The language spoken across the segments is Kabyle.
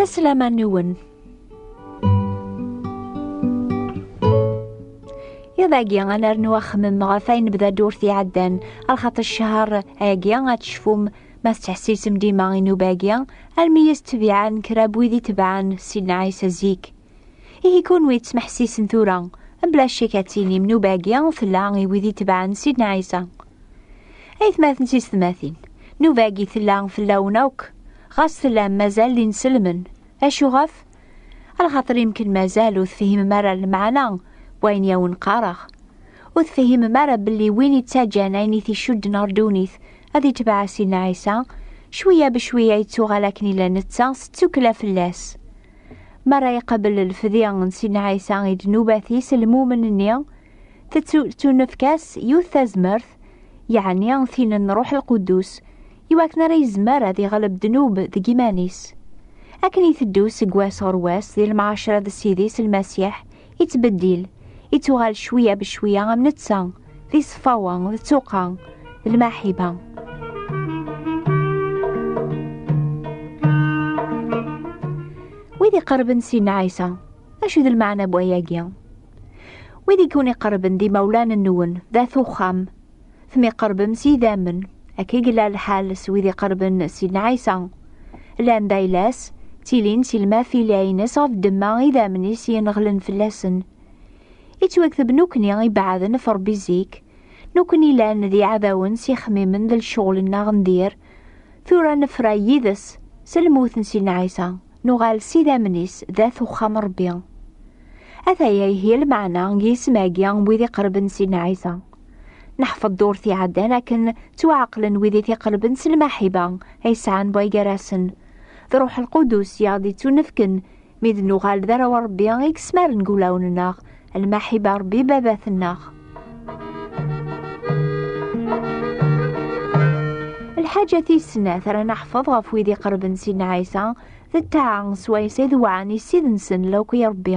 La selama nwen. Iḍ agi ad nernu axemmem ɣef ayen bda ddurt iɛeddan, ar xaṭi ccher agi ad tecfum ma tettḥessisem dima i nnuba-agi, armi i as-ttbiɛen kra n wid i tebɛen Sidna Ɛisa zik. Ihi kunwi ttmeḥsisen tura, mebla ccek ad tinim nnuba-agi tella i wid itebɛen Sidna Ɛisa. Aytmaten d teysetmatin, nnuba-agi tella fell-awen akk, ɣas tellam mazal d inselmen. Acu ɣef? Ala xaṭer yemken mazal ur tefhimem ara lemɛana n wayen i awen-qqareɣ. Ur tefhimem ara belli win yettaǧǧan ayen i t-icudden ɣer ddunit ad itbeɛ Sidna Ɛisa, cwiya becwiya yettuɣal akken yella netta s ttukkla fell-as. Mi ara iqabel lfedi n Sidna Ɛisa i ddnubat-is, lmumen-nni tettunefk-as yiwet tazmert, yeɛni tin n Ṛuḥ Lquddus, i wakken ara yezmer ad iɣleb ddnub deg yiman-is. Akken iteddu seg wass ɣer wass di lemɛacra d Ssid-is Lmasiḥ, yettbeddil, yettuɣal cwiya becwiya am netta, d iṣeffawa, d tuqa, d lmaḥiba. Wid iqerben si Ɛisa, acu d lmeɛna n wayagi? Wid i ken-iqerben d imawlan-nwen, d at uxxam, temyeqrebem s yidammen akka i yella lḥal s wid iqerben Sidna Ɛisa. Llan d ayla-s, ttilin si lmafila-ines ɣef ddemma idammen-is yenɣelen fell-asen. Ittwakteb nukni ibeɛden ɣef Ṛebbi zik, nukni llan d iɛdawen s ixemmimen d lecɣel-nneɣ n dir, tura nefra yid-s s lmut n Sidna Ɛisa, nuɣal s idammen-is d at uxxam n Ṛebbi. Ataya ihi lmeɛna n yisem-agi n wid iqerben Sidna Ɛisa. Neḥfeḍ-d ur t-iɛaddan akken ttwaɛeqlen wid i t-iqelben s lmaḥiba ay sɛan way gar-asen. D Ṛuḥ Lqudus i aɣ-d-ittunefken mi d nuɣal d arraw n Ṛebbi i yesmaren deg wulawen-nneɣ lmaḥiba Ṛebbi Babat-nneɣ. Lḥaǧa tis snat ara neḥfeḍ ɣef wid iqerben Sidna Ɛisa d ṭṭaɛa s wayes ay dewɛen i Ssid-nsen Lewqi Ṛebbi.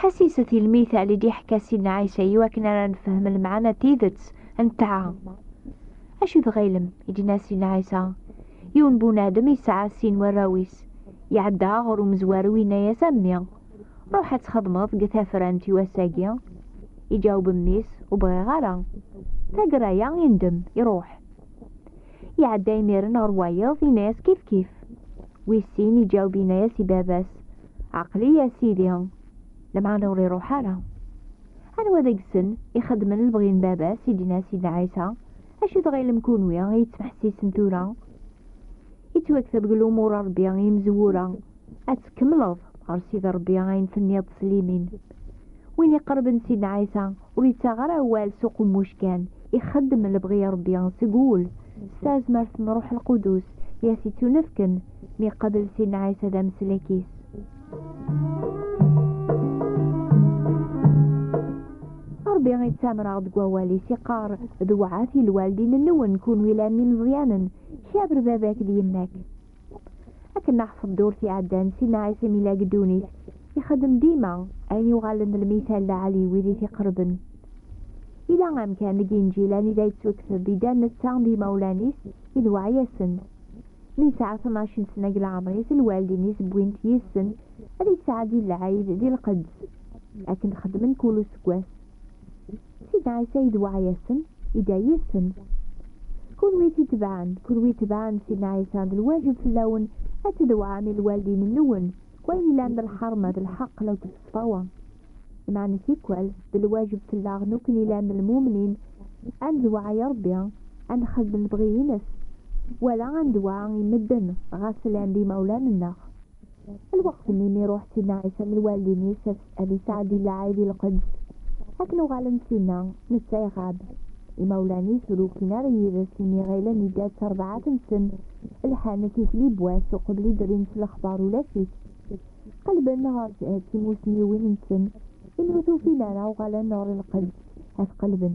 Ḥasiset i lmit Ɛli d iḥka Sidna Ɛisa i wakken ara nefhem lemɛana tidet n ṭṭaɛa. Acu i tɣilem? i d-yenna Sidna Ɛisa. Yiwen bunadem yesɛa sin warraw-is. Iɛedda ɣer umezwaru yenna-as a mmi, ruḥ ad txedmeḍ deg tafrant i wass-agi. Iǧaweb mmi-s, ur bɣiɣ ara. Taggara-a indem, iruḥ. Iɛedda imiren ɣer wayeḍ, yenna-as kifkif. Wis sin iǧaweb yenna-as i baba-s, Aqli ya sidi, lemɛana ur iruḥ ara. Anwa deg-sen ixedmen lebɣi n baba-s i d-yenna Sidna Ɛisa, acu tɣilem kunwi i yettmeḥsisen tura? Yettwakteb deg lumuṛ n Ṛebbi i yimezwura, ad tkemmleḍ ɣer Sidi Ṛebbi ayen tenniḍ s limin. Win iqerben Sidna Ɛisa Ur yettaɣ ara awal s uqemmuc kan, ixeddem lebɣi n Rebbi seg wul, s tazmert n Ṛuḥ Lqudus i as-ittunefken mi iqabel Sidna Ɛisa d ameslek-is. Ṛebbi ittamer-aɣ deg wawal-is, iqqar, Dewɛet i lwaldin-nwen, kunwi llan d imeẓyanen, kaber baba-k d yemma-k. Akken ma ḥfeḍ ddurt iɛeddan, Sidna Ɛisa mi lagi ddunit, ixeddem dima ayen yuɣalen d lmital lɛali i wid i t-iqerben. Yella amkan deg Inǧil anida yettukteb, Idda netta d imawlan-is i d weɛyasen. Mi yesɛa tnac n sna deg leɛmer-is, lwaldin-is wwin-t yid-sen ad yettɛeddi lɛid di lqedd, akken xeddmen kul useggas. Sid Ɛisa idweɛ-yasen, idɛa-yasen. Kunwi i t-itebɛen, kunwi itebɛen Sidna Ɛisa, d lwajeb fell-awen ad tdewɛem i lwaldin-nwen, deg wayen yellan d lḥerma, d lḥeqq law d ṣṣfawa. Lmeɛna tikwal, d lwajeb fell-aɣ nekni yellan d lmumnin, ad ndewɛa i Ṛebbi, ad nxeddem lebɣi-ines, wala ad ndewɛa i medden, ɣas llan d imawlan-nneɣ. Lweqt-nni mi iruḥ Sidna Ɛisa d lwaldin-is ad yesɛeddi lɛid i lqedd, akken uɣalen-d sinna, netta iɣab. Imawlan-is ur ukin ara yid-s imi ɣilen idda d tarbaɛt-nsen, lḥan tikli n wass uqbel i d-rrin s lexbar ulac-it. Qellben ɣer timussniwin-nsen, imi ur t-ufin ara uɣalen ɣer lqedd ad t-qellben.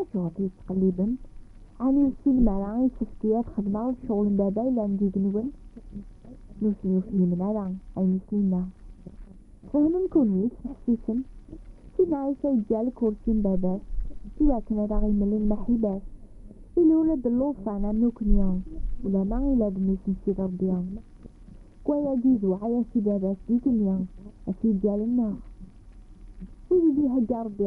Acuɣer i yi-tettqellibem? Ɛni ur tessinem ara i yessefk-iyi ad xedmeɣ lecɣal n Baba yellan deg-nwen? Nutni ur fhimen ara ayen i sen-yenna. Fehmen kunwi, ttneḥsisen. Sidna Ɛisa yeǧǧa lkursi n Baba-s i wakken ad aɣ-imel lmeḥiba-s. Illu ula d llufan am nekni, ulamma ila d mmi-s n Sidi Ṛebbi. Deg wayagi izewweɛ-as i Baba-s d igenni, as-yeǧǧa lenneɣ. Wid i d-ihegga Ṛebbi.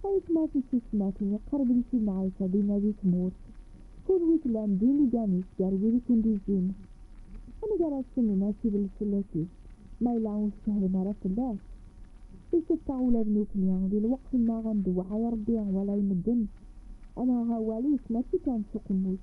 Tayetma tissisetmatin iqerben si lemɛayca dinna di tmurt, kul wi tellan d inigan-is gar wid i kent-izzin. Amek ara as-tennim acidel fell-asit, ma yella ur tcehhlim ara fell-as? Iseffeɣ ula d nukni, di lweqt-nneɣ ad ndewɛa i Rebbi wala i medden, ad naɣ awal-is mačči kan s uqemmuc.